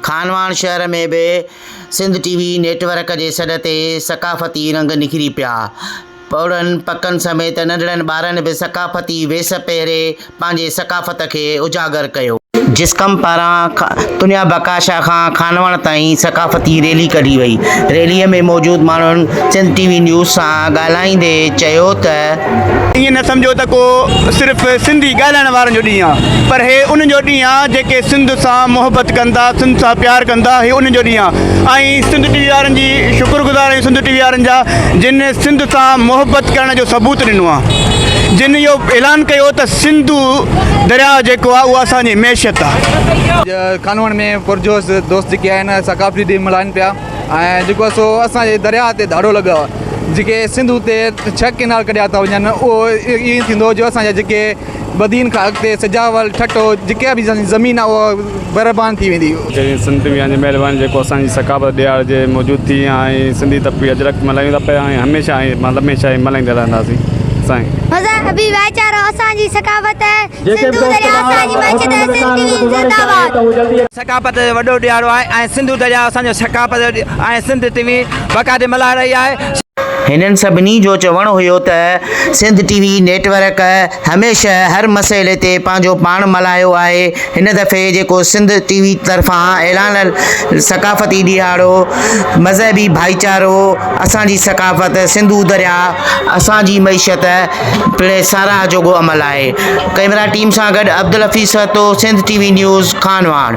خانواهڻ شهر ۾ به Sindh T V network جي سڏ تي ثقافتي رنگ نکري پيا. پوڙهن پڪن سميت ننڍڙن ٻارن به ثقافتي ويس پهري پنهنجي ثقافت کي اجاگر ڪيو. جسقم پاران تنيا بڪاشا کان خانواهڻ تائين ثقافتي ريلي ڪڍي وئي. ريلي ۾ موجود ماڻهن سنڌ ٽي وي نيوز سان ڳالهائيندي چيو ته، ائين نه سمجهو ته ڪو صرف سنڌي ڳالهائڻ وارن جو ڏينهن آهي پر هي انهن جو ڏينهن آهي جيڪي سنڌ سان محبت ڪن ٿا سنڌ سان پيار ڪن ٿا هي انهن جو ڏينهن آهي ۽ سنڌ ٽي وي وارن جي شڪر گذار آهيون سنڌ ٽي وي وارن جا جن سنڌ سان محبت ڪرڻ جو ثبوت ڏنو آهي جن اهو اعلان ڪيو ته سنڌو درياء جيڪو آهي اهو اسان جي معيشت آهي. کانوڻ ۾ پرجوش دوست جيڪي آهن ثقافتي ڏينهن ملهائن پيا. ۽ جيڪو سو اسان جي درياهه تي ڌاڙو لڳو آهي جيڪي سنڌو تي ڇهه ڪينال ڪڍيا ٿا وڃن اهو ائين ٿيندو جو اسان جا جيڪي بدين کان اڳتي سجاول ٺٽو جيڪا به زمين آهي اها بيربان ٿي ويندي. جنهن سنڌ ميان جي مهرباني جيڪو اسان جي ثقافت ڏيار جي موجود ٿي ۽ سنڌي طبقي اجرڪ ملهايون ٿا پيا ۽ هميشه ۽ لمحي شاهي ملهائيندا رهنداسين سائين. مذهبي ڀائيچارو اسان جي ثقافت. جيڪي به دوست ٻاهر هوٽل ۾ ويٺا آهن انهن کي گذارش آهي ته هو جلدي اچن. ثقافت جو وڏو ڏيارو آهي ۽ سنڌو درياء اسان جو ثقافت جو ڏي آهي سنڌ ٽي وي بقا تي ملاح رهي آهي. هنن سڀني جو چوڻ هيو ته Sindh T V network هميشه هر مسئلي تي پنهنجو پاڻ ملايو آهي هن دفعي جيڪو سنڌ ٽي وي طرفان اعلان ثقافتي ڏيهاڙو مذهبي ڀائيچارو اسان جي ثقافت سنڌو درياء اسان جي معيشت پڻ ساراهه جوڳو عمل آهي. ڪئميرا ٽيم سان گڏ Abdul Hafeez Sahito, Sindh T V news, Khanwahan.